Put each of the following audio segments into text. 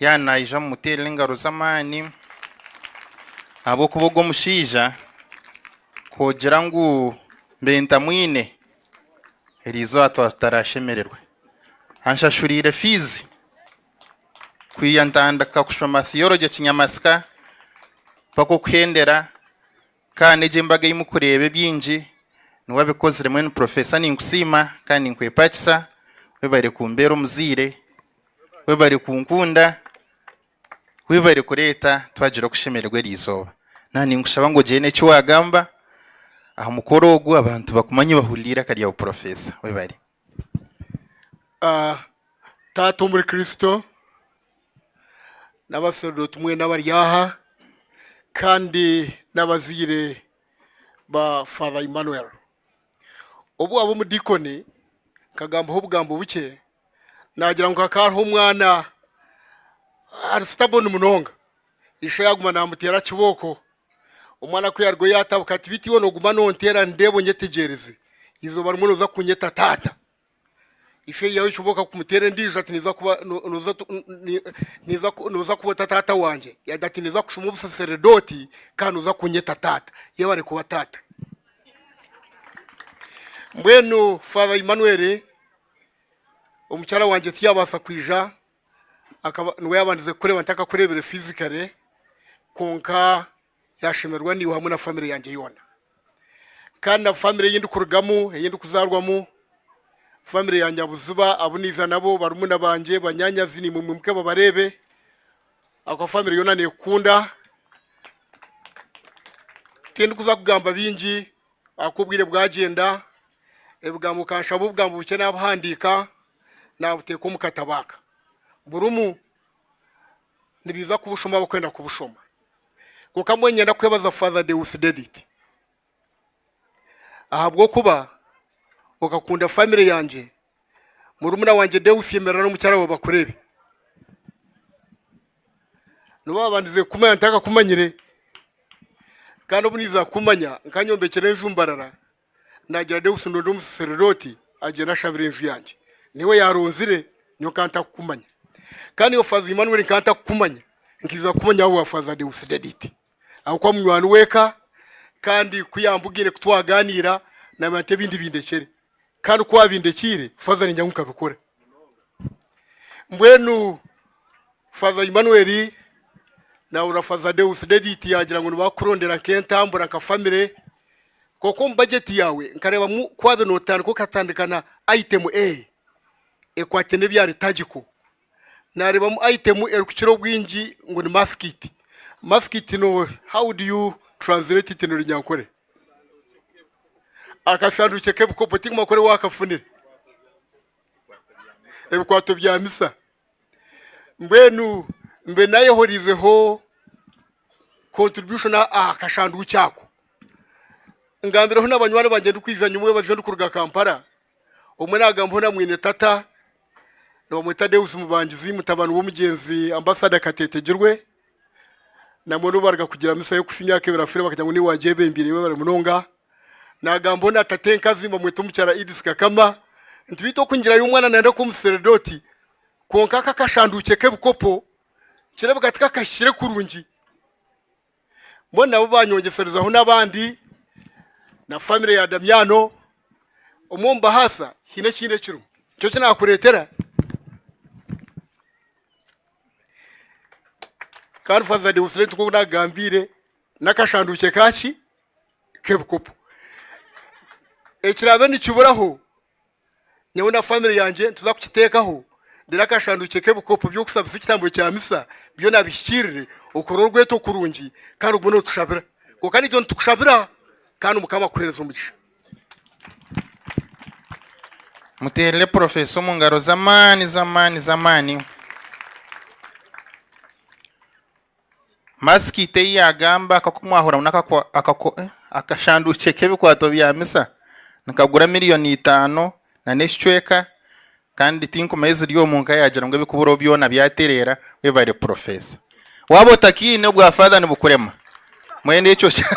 Yaaba naija mumuteerere engaro z'amaani ahabw'okuba ogu omushaija kugira ngu mbe ntamwine erizooba twaba tutarashemererwa. Anshashuriire fiizi kwiha ntandika kushoma Theology Kinyamasika mpaka okuhendera. Kandi egi embaga eyi mukureeba ebyingi ni wabikozire mwenu professor ninkusiima kandi ninkwepakisa webare kumbeera omuzaire webare kunkunda webare kureeta twagira okushemererwa eri izooba naha ninkushaba ngu ogyende eki wagamba aha mukoro ogu abantu bakumanye bahuliire akaryabu professor webare. Taata omuri Kristo n'abasaserdooti mwena abari aha kandi n'abazaire ba Father Emmanuel. Obu waaba omudiikoni nkagambaho obugambo bukye, naagira ngu hakaba hariho omwana ari sitaboni munonga, ishe yaaguma naamuteera kibooko. Omwana ku yaarugayo yaatabuka ati, Beitu iwe nooguma noonteera nindeeba onyetegyereze, eizooba rimwe nooza kunyeta taata. Ishe yaawe ekyo booka kumuteera endiijo ati, Niiza kuba no- nooza tu- ni- niiza ku- nooza kuba ota taata wangye? Yaagira ati, Niiza kushoma obusaserdooti kandi nooza kunyeta taata. Yebare kuba taata. Mbwenu Father Emmanuel, omukyara wangye tiyaabaasa kwija, akaba niwe yaabandize kureeba ntakakureebire fizikare kwonka yaashemererwa naiwe hamwe na famire yangye yoona kandi na famire ei ndikurugamu ei ndikuzaarwamu famire ya Nyabuziba abu naiza nabo barumuna bangye banyaanyazi naimwe mwimuke babareebe ahabw'okuba famire yoona neekukunda tindikuza kugamba bingi ahaku obwire bwagyenda ebigambo nkanshaba obugambo bukye nabuhandiika nabuteeka omu katabo aka burimu nibiija kubushoma abarikwenda kubushoma kwonka mbwenu niinyenda kwebaza faaza Deus Dedit ahabw'okuba okakunda faamire yangye. Murumuna wangye Deus yemerera n'omukyara wawe bakureebe. Nobu babandize kukumanya ntakakumanyire kandi obu niza kukumanya nkanyombekyera enju mbarara nagira Deus ndonde omusaserodoti agyende ashabire enju yangye. Niwe yaronzire nyowe nkaba ntakukumanya. Kandi iwe Faaza Emmanuel nkaba ntakukumanya nkiza kukumanya ahabwa Faaza Deusdedit. ahabw'okuba munywani w'eka kandi ku yaambugiire ku twaganiira naamanya nti ebindi bindekyere kandi ku abindekiire faaza niija ngu nkabikora. Mbwenu faaza Emmanuel naahurira faaza Deus Dedit yaagira ngu nibakukurondera nk'entambura nka famire kwonka omu bajeti yaawe nkareebamu ku waabe nootandika okatandika na aitemu A ekwate n'ebya liturgical. nareebamu ayitemu erikukira obwingi ngu ni masikiti. Masikiti no how do you translate it in Runyankore? Akasanduukye k'ebikopo tingimanya ku ori waakafunire. Ebikwato bya misa. Mbwenu mbe naayehoriizeho contribution aha aha kashanduukye ako. Ngambireho na banywani bangye ndikwija nyowe omu biro ndikuruga Kampala Omwe naagambaho na mwine tata, nibamweta Deus Mubangizi, mutabani w'omugyenzi Ambasada Kateetegirwe. Nabwo nibo baaruga kugira misa y'okusa emyaka ebiri afiire bakagira ngu niiwe wagyebembeire iwe bari munonga. Naagambaho na tata enkazi nibamweta omukyara Edith Kakama. Nti beitu okungiirayo omwana nayenda kuba omusaserdooti kwonka aka akashanduukye k'ebikopo nikireebeka tikakahikire kurungi. mbwenu nabo banyongyeserezaho n'abandi na famire ya Damiano omwe omu bahaasa haine ekindi ekirimu nikyo eki naakureetera kandi faza dewusire nk'oku naakugambiire n'akashanduukye kaaki k'ebikopo ekiraabe nikiburaho nyowe na famire yangye nituza kukiteekaho reero akashandukye k'ebikopo by'okushabisa ekitambo kya misa byona abihikiirire okore orweto kurungi kandi ogume nootushabira kwonka niija nitukushabira kandi mukama akuheereze omugisha muteerere porofeesa omu ngaro z'amaani z'amaani z'amaani Masiki ita ei yaagamba akakumwahura ngu n'akashanduukye k'ebikwato bya misa nikagura milioni itaano na n'ekicweka kandi tinkuma ei ziri omu nka yaagira ngu ebikuburaho byona byatereera. Webare purofeesa. Waaba otakiine obwa faaza nibukurema mbwenu ekyo hehehe.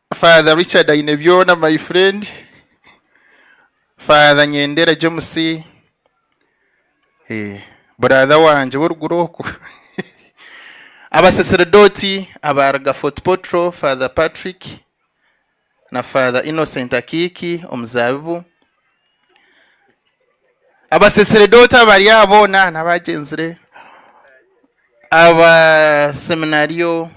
Father Richard aine byona my friend Father Nyendera James brother wangye w'oruguru okwo Abasacerdote abaaruga Fort Portal Father Patrick na Father Innocent Akiiki Omuzaabibu Abasacerdote abari aha boona n'abaagyenzire Aba Seminario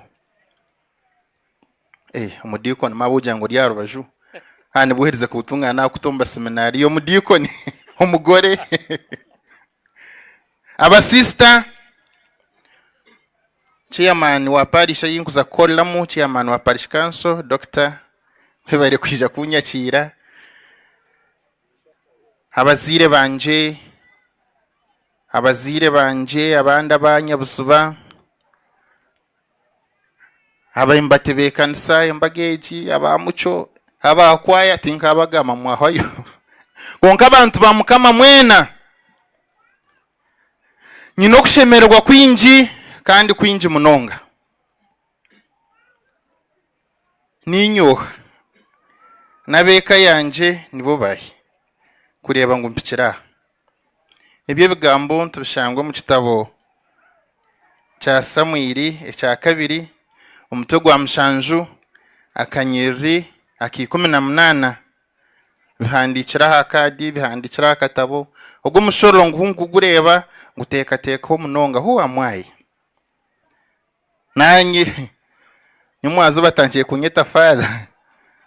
Eeh omudiikoni mawe ogira ngu ori aha rubaju haha nibwo oherize kubutungaana naakuta omu baseminario omudiikoni omugore abasiisita chairman wa parish ei nkuza kukoreramu chairman wa parish council Dokita webare kwija kunyakiira abazaire bangye abazaire bangye abandi aba nyabuziba. Ababaire nibatebeekanisa embaga egi aba Mucyo, aba kwaaya tinkabagamba mwahwayo kwonka abantu ba Mukama mwena nyine okushemererwa kwingi kandi kwingi munonga. Niinyoha n'ab'eka yangye nibo bahi kureeba ngu mpikire aha? Ebyo ebigambo nitubishanga omu kitabo kya Samwiri ekya kabiri, omutwe gwa mushanju, akanyiriri aka ikumi na munaana. Bihandiikire aha kaadi, bihandiikire aha katabo. Ogwo mushororo nguhu nigugureeba, nguteekateekeho munonga. Hu am I? Naanye nyomwazo batandikire kunyeta Father.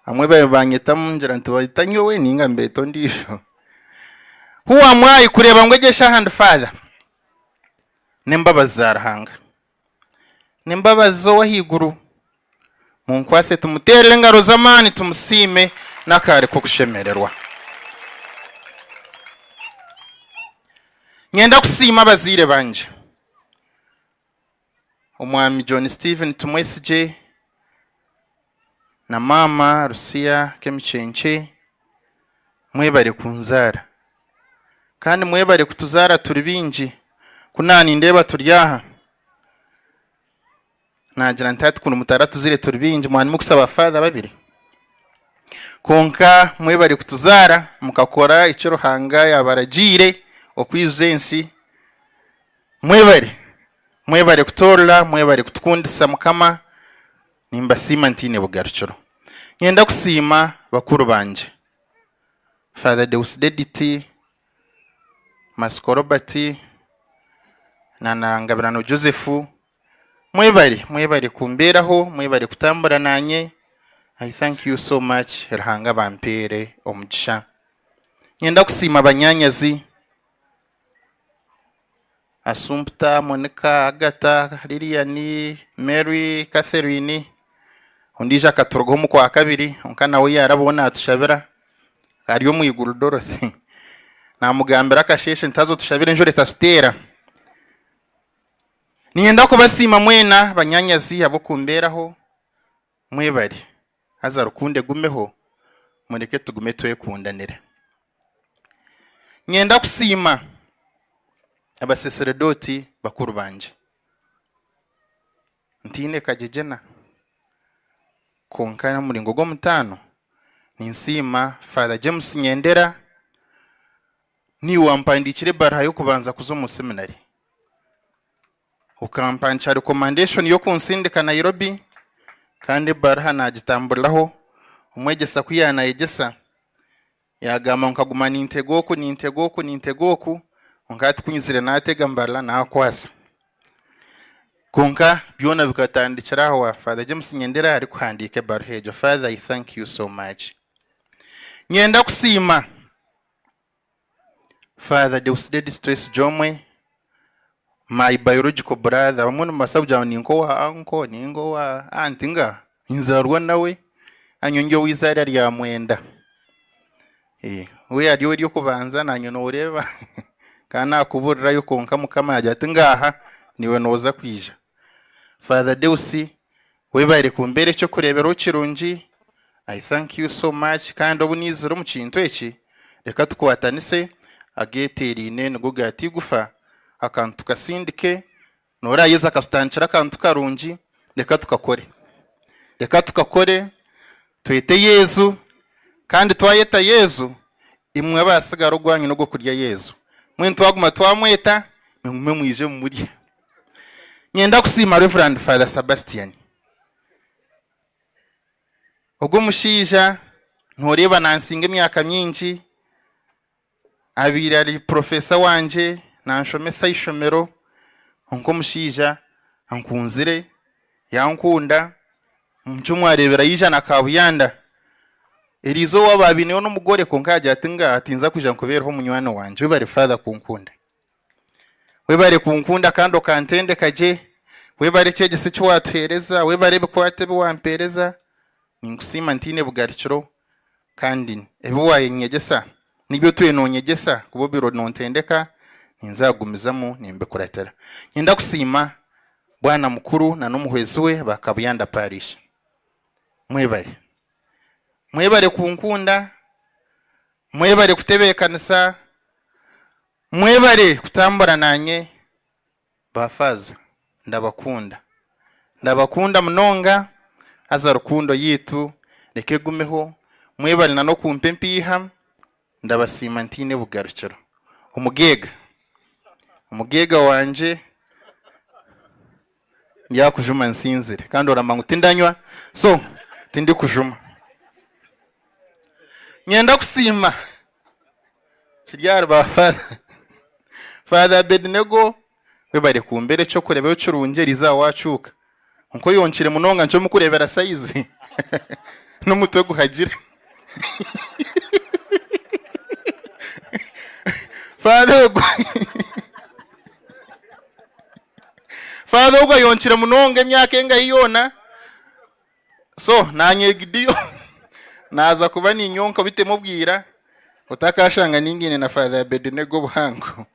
Abamwe baabaire nibaanyeta Mungera nibaanyeta nyowe nainga nibeeta ondiijo. Who am I kureeba ngu egi eshaaha ndi Father? N'embabazi za Ruhanga. N'embabazi z'Ow'ahaiguru. Munkwaase tumuteerere engaro z'amaani tumusiime n'akaare k'okushemererwa. Nyenda kusiima abazaire bangye. omwami John Steven Tumwesigye na maama Lucia Kemikyenkye mwebare kunzaara kandi mwebare kutuzaara turi baingi ku naanindeeba turi aha naagira nti hati mutaratuzire turi baingi mwarimu kusaba father babiri kwonka mwebare kutuzaara mukakora eki Ruhanga yaabaragiire okwijuza ensi. Mwebare mwebare kutoorora mwebare kutukundisa mukama nimbasiima ntaine bugarukiro ninyenda kusiima bakuru bangye Father Deusidediti Masiko Robert na na Ngabirano Joseph mwebare mwebare kumbeeraho mwebare kutambura nanye I thank you so much Ruhanga abampeere omugisha ninyenda kusiima banyanyazi Asumputa Monika, Agata, Liliani, Mary, Catherine, ondiijo akaturugaho omu kwa kabiri kwonka nawe yaarabaho naatushabira ari omu iguru Dorothy. Naamugambira akasheeshe nti haza otushabire enjura etatuteera. Niinyenda kubasiima mwena banyaanyazi ahabw'okumbeeraho Mwebare haza rukundo egumeho mureke tugume twekundanira. Nyenda kusiima abaseseredooti bakuru bangye ntaine kagyegyena kwonka omuringo gw'omutaano ninsiima Father James Nyendera niwe wampandiikira ebaruha y'okubanza kuza omu seminary. Okampankya rikomandeeshoni y'okunsindika Nairobi kandi ebaaruha naagitamburiraho. Omwegyesa ku yaanaayegyesa, yaagamba ngu nkaguma nintega oku nintega oku nintega oku, kwonka hati ku nyizire naatega mbarira naakwasa. Kwonka byona bikatandikira aha wa Father James Nyendera arikuhandiika ebaaruha egyo. Father I thank you so much. Nyenda kusiima. Father Deusdedis Twesigyeomwe, my biological brother, abamwe nimubaasa kugira ngu ninka owa uncle ninga owa aunt nga ninzaarwa nawe kandi nyowe ndi ow'eizaara rya mwenda, we ari ow'ery'okubanza naanye nooreeba nkaba naakubuurirayo kwonka Mukama yaagira ati ngaaha niiwe nooza kwija. Father Deus webare kumbera ekyokureberaho kirungi I thank you so much kandi obu naizire omu kintu eki reka tukwatanise ageteraine nigo gata eigufa akantu tukasindike norayeze akatutandikira akantu karungi reka tukakore reka tukakore twete Yesu kandi twayeta Yesu imwe abasigara ogwanyu nogwo kurya Yesu mbwenu twaguma twamweta nimumwe mwije mumurye. Niinyenda kusiima Reverand Father Sabastian. Ogu omushaija nooreeba naansinga emyaka mingi, abaire ari purofeesa wangye, naanshomesa aha ishomero, kwonka omushaija ankunzire, yankunda, omu nikyo mwareebera yaija na kaabuyanda. Erizooba baabaineyo n'omugore kwonka yaagira ati, Tinza kwija nkubeereho munywani wangye. Webare Father kunkunda. Webare kunkunda kandi okantendeka gye. Webare ekyegyesho eki waatuheereza. Webare ebikwate ebi wampeereza. Ninkusiima ntaine bugarikiro kandi ebi waanyegyesa n'ebi otwire noonyegyesa kuba obaire noontendeka ninza kugumizamu nimbikuratira. Niinyenda kusiima Bwana mukuru n'omuhwezi we ba Kabuyanda Parish. Mwebare. Mwebare kunkunda. Mwebare kutebeekanisa. Mwebare kutambura nanye ba faaza ndabakunda ndabakunda munonga haza rukundo yaitu reka egumeho mwebare na nokumpa empiiha ndabasiima ntaine bugarukiro omugeega omugeega wangye. Yaakujuma nsinzire kandi oramanya ngu tindanywa so tindikujuma. Nyenda kusiima kiri ahari ba Father. Father Abednego webare kumbera ekyokurebaho kirungi erizooba wacuuka kwonka oyonkire munonga nikyo mukurebera sayizi nomutwe guhagire. Father ogwe. Father ogu ayonkire munonga emyaka engahi yoona so nanye Gidio naza kuba ninyonka obitemu obwira otakashanga ningaine na Father Abednego obuhango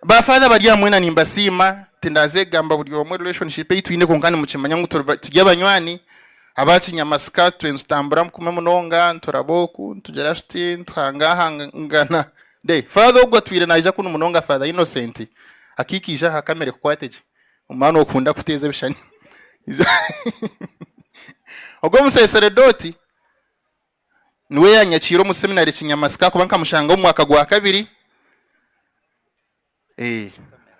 ba Father bari aha mwena nimbasiima tindazegamba buri omwe relationship ei twine kwonka nimukimanya ngu turi ba- turi abanywani aba kinyamasika twe nitutambura kumwe munonga nituraba oku nitugira tuti nituhangahangana. De, Father ogu atwire naija kunu munonga Father Innocent akikaija aha kamere kukwate gye omwana okunda kuteeza ebishani Ogwo omuseseredoti niwe yanyakiire omu seminary Kinyamasika ahakuba nkamushangaho omu mwaka gwa kabiri.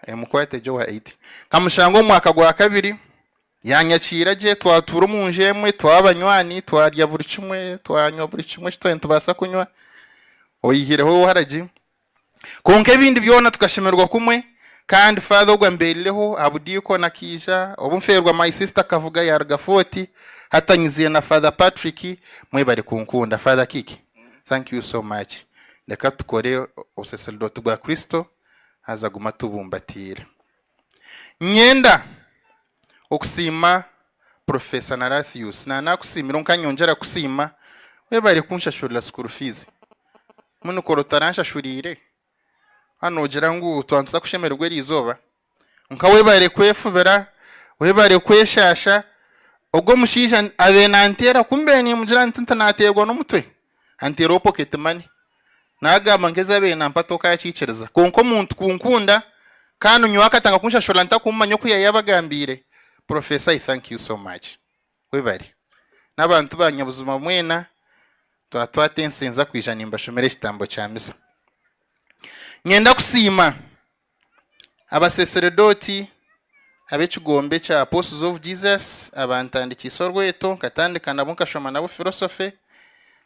Emukwate egye owa eight nkamushanga omu mwaka gwa kabiri yanyakiira gye twatuura omu nju emwe twaba abanywani twarya buri kimwe twanywa buri kimwe eki twaba nitubaasa kunywa oyihireho owa waragi kwonka ebindi byona tukashemererwa kumwe kandi father ogu ambeerireho aha budiikoni akaija obu nfeerwa my sister Kabuga yaaruga Fort hati anyiziire na father Patrick mwebare kunkunda father Kiki. Thank you so much reka tukore obuseserdoti bwa kristo haza guma atubumbatiire Nyenda okusiima professor Narathius na nakusiimire onka nyongyera kusiima webare kunshashurira school fees mbwenu kora otaranshashuriire a nogira ngu twatuza kushemererwa erizooba. Kwonka webare kwefubira, webare kweshaasha. Ogwo omushaija abaire nanteera ku mbaire nimugira nti tinateerwa n'omutwe, anteera owa pocket money. Nagamba ngu ezi abaire nampa tokakikiriza. Kwonka omuntu kunkunda kandi nyowe akatanga kunshashura ntakumumanya oku yayabagambiire, Professor I thank you so much. Webare. N'abantu ba Nyabuzima mwena, twatwata ensenza kwija nimbashomera ekitambo kya misa. Nyenda kusiima. Abaseseredooti ab'ekigombe kya Apostles of Jesus abantandikiise orweto nkatandika nabo nkashoma nabo philosophy.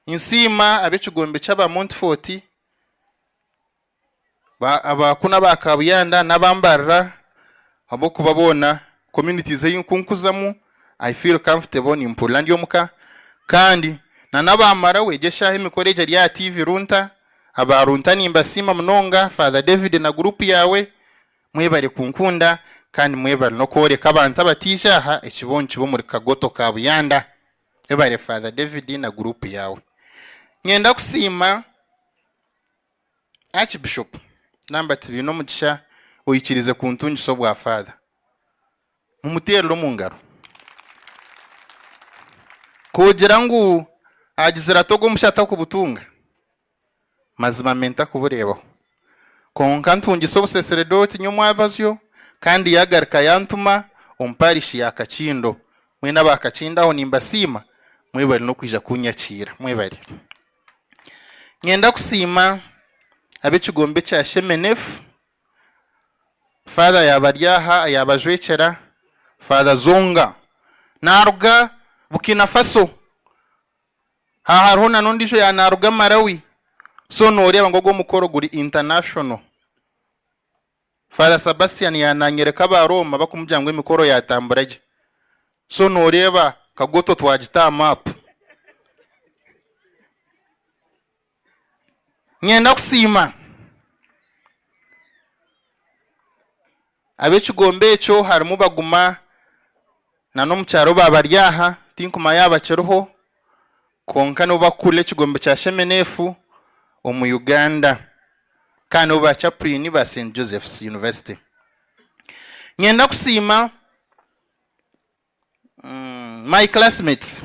Ninsiima ab'ekigombe ky'aba Montfort ba- aba kunu aba Kabuyanda n'aba Mbarira ahabw'okuba boona communities ei nkunkuzamu I feel comfortable nimpurira ndi omuka kandi na naba Marawi egi eshaaha emikoro egi eri aha TV Runta aba Runta nimbasiima munonga Father David na group yaawe mwebare kunkunda kandi mwebare nokworeka abantu abataija aha ekibeho nikiba omuri Kagoto ka Buyanda webare Father David na group yaawe nyenda kusiima Archbishop Lambert Binomugisha oikiriize kuntungisa obwa Father. Mumuteerere omu ngaro. Koogira ngu agizire ata ogwo musha atakubutunga? Mazima me ntakubureebaho. Kwonka ntungisa obusesredooti nyowe omwabazyo kandi yaagarika yantuma omu Parish ya Kakindo. Mwena aba Kakindo aho nimbasiima. Mwebare n'okwija kunyakiira. Mwebare. Niinyenda kusiima ab'ekigombe kya Shemenefu, Faather yaaba ari aha yaabajwekyera, Faather Zonga. Naaruga Burkina Faso. Aha hariho na n'ondiijo yaaba naaruga Malawi. So nooreeba ngu ogu omukoro guri international. Father Sabastian ya nanyoreka aba Roma bakumugira ngu emikoro yatambura gye so noreeba Kagoto twagita aha map. Ninyenda kusiima abekigombe ekyo harimu Baguma, Na n'omu kyaro baabaryaha, tinkuma yaaba kiriho, kwonka nibo bakukurira ekigombe kya Shemenefu omu Uganda kandi nibo ba Chapurini ba Saint Joseph's University. Nyenda kusiima my classmates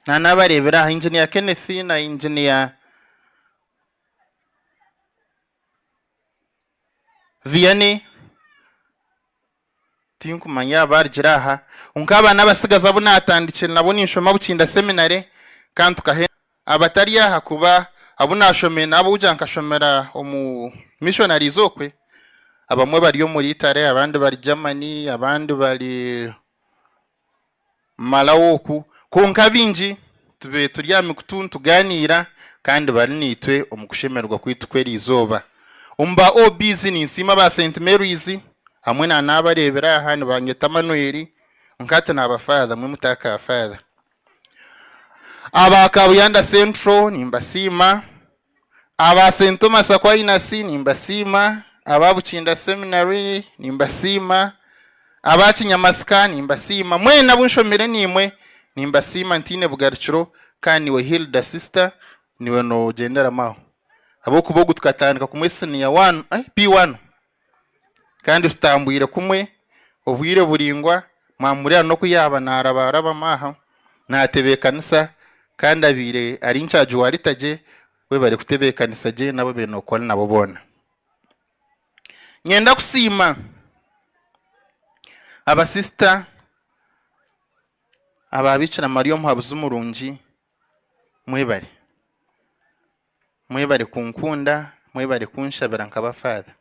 na naabareebire aha, Engineer Kenneth na Engineer Vianney tinkumanya yaaba arugire aha, kwonka aba n'abatsigazi abu naatandikire nabo ninshoma Bukinda Seminary kandi tukahe abatari aha kuba abu naashomire n'abu uja nkashomera omu Missionaries okwe, abamwe bari omuri Italy, abandi bari Germany, abandi bari mumalaho oku, kwonka abaingi tubaire turi aha mikutu nitugaaniira kandi bari naitwe omu kushemererwa kwaitu kw'erizooba. Omu ba OBs ninsiima aba Saint Mary's hamwe na naabareebera aha nibangeta Manuel kwonka hati naaba Father mwe muta ka Father. Aba Kabuyanda Central nimbasiima. Aba St Thomas Aquinas nimbasiima, aba Bukinda Seminary nimbasiima, aba Kinyamasika nimbasiima, mwena abu nshomire naimwe nimbasiima ntaine bugarukiro kandi naiwe Hilda sister niwe noogyenderamu aho ahabw'okuba ogu tukatandika kumwe siniya wanu, P1. Kandi tutambwire kumwe obwire buraingwa, mwamureeba n'oku yaaba naarabaarabamu aha, naatebeekanisa, kandi abaire ari nkyagi wa Rita gye we barikutebeekanisa gye n'abu baine kukora nabo boona. Nyenda kusiima abasisita aba Bikira Maria Omuhabuzi Murungi. mwebare mwebare kunkunda mwebare kunshabira nkaba father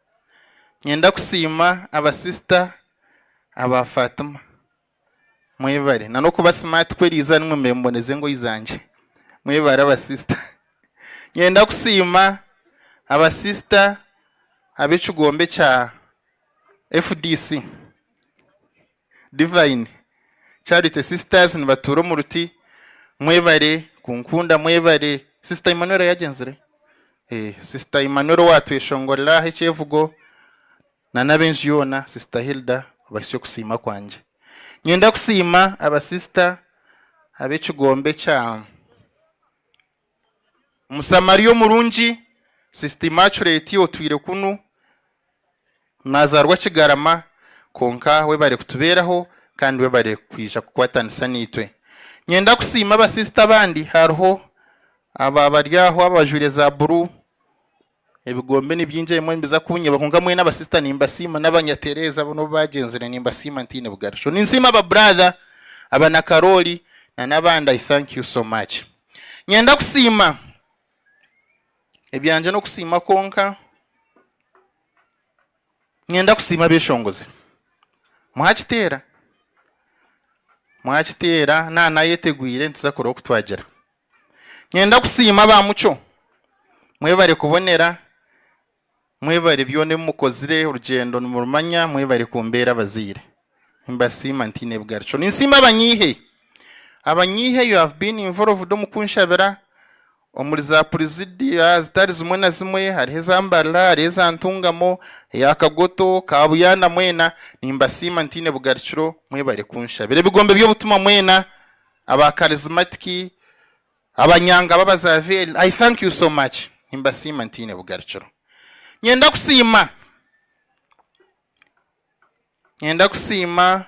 ninyenda kusiima aba sister aba Fatima mwebare nanokuba smart ku eriizi aha nimwe mubemboneza engoyi zangye mwebare aba sister ninyenda kusiima aba sister abekigombe kya fdc. Divine, Charity sisters nibatuura omu ruti mwebare kunkunda mwebare sister Emmanuel yagyenzire ee sister Emmanuel owatweshongorera aha ekyevugo na n'abenju yoona sister Hilda obahitsya okusiima kwangye nyenda kusiima aba sister ab'ekigombe kya Omusamaria omurungi, Sister Immaculate otwire kunu nazaarwa Kigarama kwonka webare kutubeeraho kandi webare kwija kukwatanisa naitwe. Nyenda kusiima aba sister abandi hariho aba bari aho abajwire za buru Ebigombe ni bingi ebimwe nibiza kunyeba kwonka mwena ba sister nimbasiima n'abanyatereeza boona obu baagyenzire nimbasiima ntaine bugarisho. Ninsiima ba brother, aba Nakarooli na n'abandi I thank you so much. Nyenda kusiima, ebyangye n'okusiima kwonka, nyenda kusiima abeshongozi. Mwakiteera? Mwakiteera, naaba naayetegwire nituza kureba oku twagira. Nyenda kusiima ba Mucyo, mwebare kubonera, mwebare byona ebi mukozire, orugyendo nimurumanya, mwebare kumbeera abazaire. Nimbasiima ntaine bigarikyo. Ninsiima abanyiihe, abanyiihe you have been involved omu kunshabira omuri za purizidia zitari zimwe na zimwe, hariho eza Mbarara, hariho eza Ntungamo, eya Kagoto, Kabuyanda mwena nimbasiima ntaine bugarikiro, mwebare kunshabira. Ebigombe by'obutumwa mwena Aba Charismatiki, abanyanga b'Abazavieli, I thank you so much. Nimbasiima ntaine bugarukiro. Nyenda kusiima, nyenda kusiima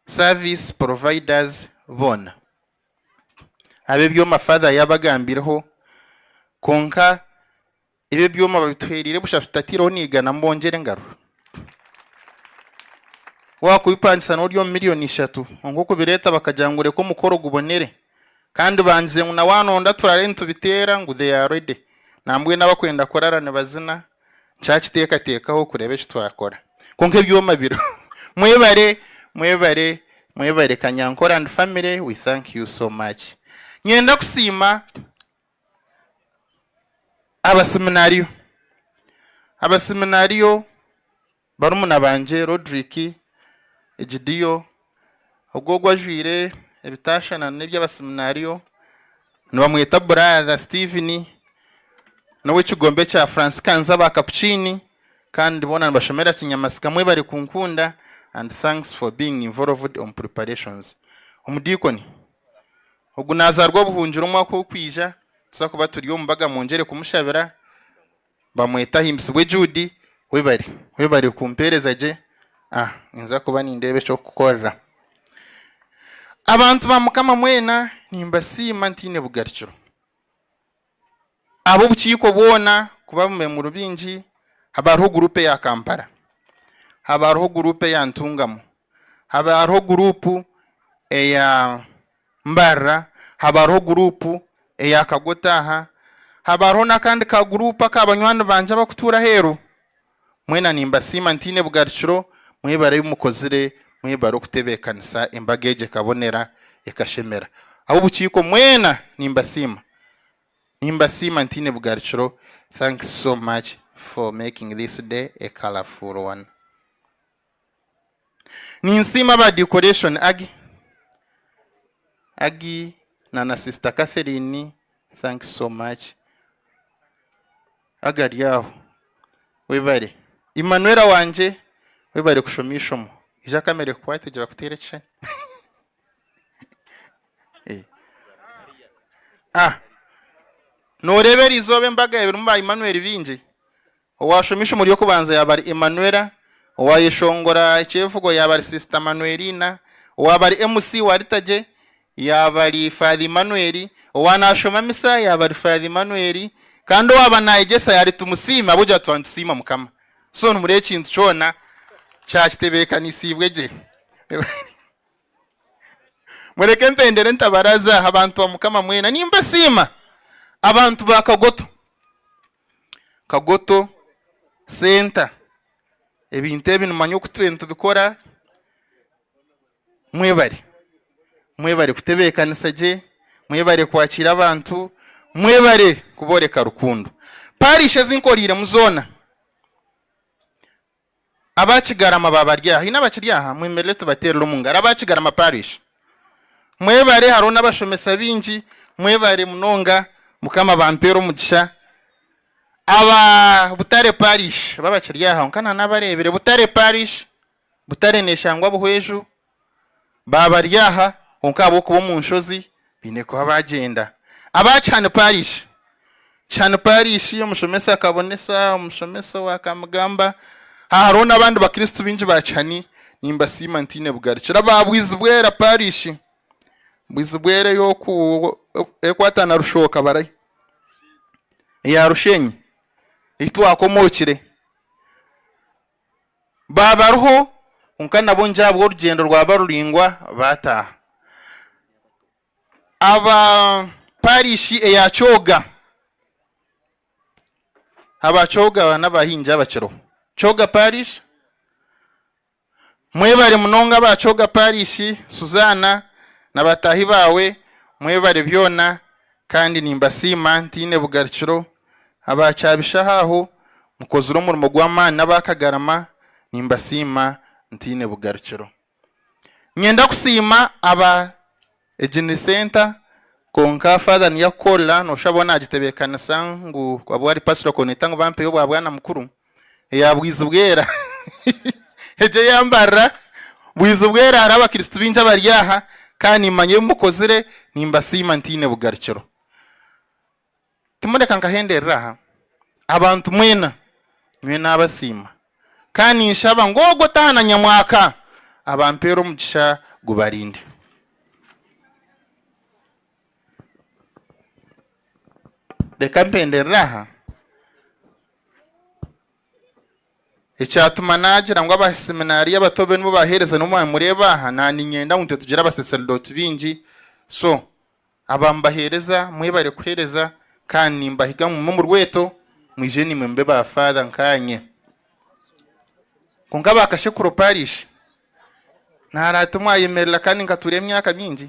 service providers boona. Ab'ebyoma Father yabagambireho, kwonka Ebi ebyoma babituhereire busha tutatiireho niigana mbongyere engaru? Waakubipangisa noorya omu miriyoni ishatu kwonka okubireeta bakagira ngu reka omukoro gubonere kandi bangize ngu nawe anonda turaare nitubiteera ngu they are ready nambwenu abakwenda kuraara nibazina nkyakiteekateekaho kureeba eki twakora kwonka ebyoma biriho. Mwebare mwebare mwebare Kanyankore and family we thank you so much. Nyenda kusiima Abaseminario. Abaseminario barumuna bangye Rodrick, Egidio, ogwo ogu ajwaire ebitaashushana n'eby'abaseminario nibamweta Brother Steven, n'ow'ekigombe kya Fransikans aba Kapukiini kandi boona nibashomera Kinyamasika. Mwebare kunkunda and thanks for being involved omu preparatiions. Omudiikoni, Ogu nazaarwa obuhungiro omwaka ogukwija tuza kuba turi omu mbaga mwongyere kumushabira bamwete ahimbisibwe Jude webare webare kumpereza gye a ninza kuba nindeeba ekyokukorera abantu ba mukama mwena nimbasiima ntaine bugarikiro. Ab'obukiiko bwona kuba abamemuru baingi, haba hariho guruupu eya Kampala, haba hariho guruupu eya Ntungamo, haba hariho guruupu eya Mbarara, haba hariho guruupu eya Kagotaaha, haba hariho n'akandi ka guruupu aka banywani bangye abakutuura aheeru. Mwena nimbasiima ntaine bugarukiro, mwebare ebi mukozire, mwebare okutebeekanisa embaga egi ekabonera, ekashemera. Ab'obukiiko mwena nimbasiima, nimbasiima ntaine bugarukiro, thanks so much for making this day a colourful one. Ninsiima aba Decoration Agi Agi na na sister Catherine thanks so much Agi ari aho webare Emmanuella wangye webare kushoma eishomo egi aka mere kukwate gye bakuteera ekishushani eh ah noreeba erizooba embaga erimu ba Emmanuel baingi Owaashoma eishomo ry'okubanza yaaba ari Emanuela, owaayeshongora ekyevugo yaaba ari Sister Manuelina, owaaba ari MC wa Liturgy yaaba ari Father Emmanuel, owaanaashoma misa yaaba ari Father Emmanuel, kandi owaaba naayegyesa yaaba ari Tumusiime ahabw'okugira tuba nitusiima Mukama. So nimureeba ekintu kyona kya kitebeekanisiibwe gye. Mureke mpendere ntabaraza aha bantu ba Mukama mwena. Nimbasiima abantu ba Kagoto. Kagoto center ebintu ebi nimanya oku turiyo nitubikora mwebare mwebare kutebekanisa gye mwebare kwakira abantu mwebare kuboreka rukundo parish ezinkoriremu zoona. Aba Kigarama ba bari aha? Haine abakiri aha? Mwemerere tubateerere omu ngaro. Aba Kigarama Parish, mwebare. Hariho n'abashomesa baingi. Mwebare munonga. Mukama abampeere omugisha. Aba Butare Parish, bo abakiri aha? Kwonka nanabareebire. Butare Parish, Butare neeshangwa Buhweju. baaba bari aha, kwonka ahabw'okuba omu nshozi baine kuba baagyenda. Aba kihani paarishi. Kihani paarishi omushomesa akabonesa, omushomesa owe akamugamba. Aha hariho n'abandi Bakristo baingi ba kihani nimbasiima ntaine bugarukira aba Bwizibwera paarishi. Bwizibwera ey'oku erikwata na Rushooka bari eya Rusheenyi ei twakomookire. baabariho kwonka nabo ngira ahabwa orugyendo rwaba ruraingwa baataaha. Aba parishi eya Kyoga, aba Kyoga aba n'abahingi abakiriho. Kyoga parish, mwebare munonga aba Kyoga parishi, Suzana na bataahi baawe mwebare byona. Kandi nimbasiima ntaine bugarukiro, aba kyabishaho aho, mukozire omurimo gw'amaani n'aba kagarama, nimbasiima ntaine bugarukiro. Niinyenda kusiima aba Eginri Center, kwonka Father niyakukorera, noshusha bo nagitebekanisa ngu abu ari Pastor Koneta ngu bampeyo obwa bwana mukuru, eya Bwizibwera egyo eyambarira Bwizibwera hariho abakristo baingi abari aha kandi nimanya ebi mukozire nimbasiima ntaine bugarukiro timureka nkahenderere aha abantu mwena nyowe nabasiima kandi ninshaba ngu ogu otaha na nyamwaka abampeere omugisha gubarinde. Reka mpenderere aha. Ekyatuma naagira ngu abaseminario abato be nibo baheereza nibo mwamureeba aha, naaniinyenda ngu itwe tugire abaseserdooti baingi. So, aba mubaheereza, mwebare kuheereza kandi nimbahiga ngu mugume omu rweto, mwije naimwe mube ba Faather nkaanye. Kwonka ba Kashekuro Parish, naaraata omwayemerera kandi nkatuura emyaka mingi.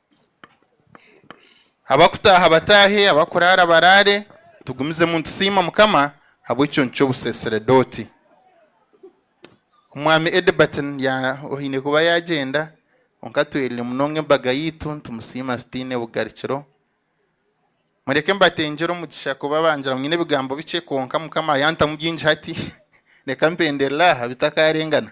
abakutaaha bataahe abakuraara baraare tugumizemu nitusiima mukama habw'ekicuncu ky'obuseseredooti omwami Edberton ya oine kuba yagyenda kwonka tweriire munonga embaga yaitu nitumusiima tutaine bugarikiro mureke mbatengyere omugisha kuba bangira ngu nyine ebigambo bikye kwonka mukama yantamu bingi hati reka mpenderere aha bitakaarengana.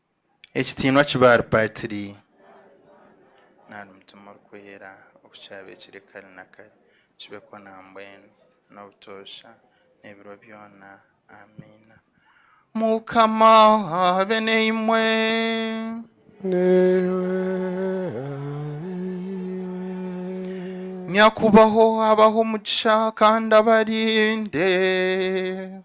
Ekitiinwa ki Baalipaatiri nari Mutima Orikwera oku kyabeekire kare na kare, kibe kwo na mbwenu, n'obutoosha, n'ebiro byona. Amiina. Mukama abe naimwe. Nyakubaho abahe omugisha kandi abarinde.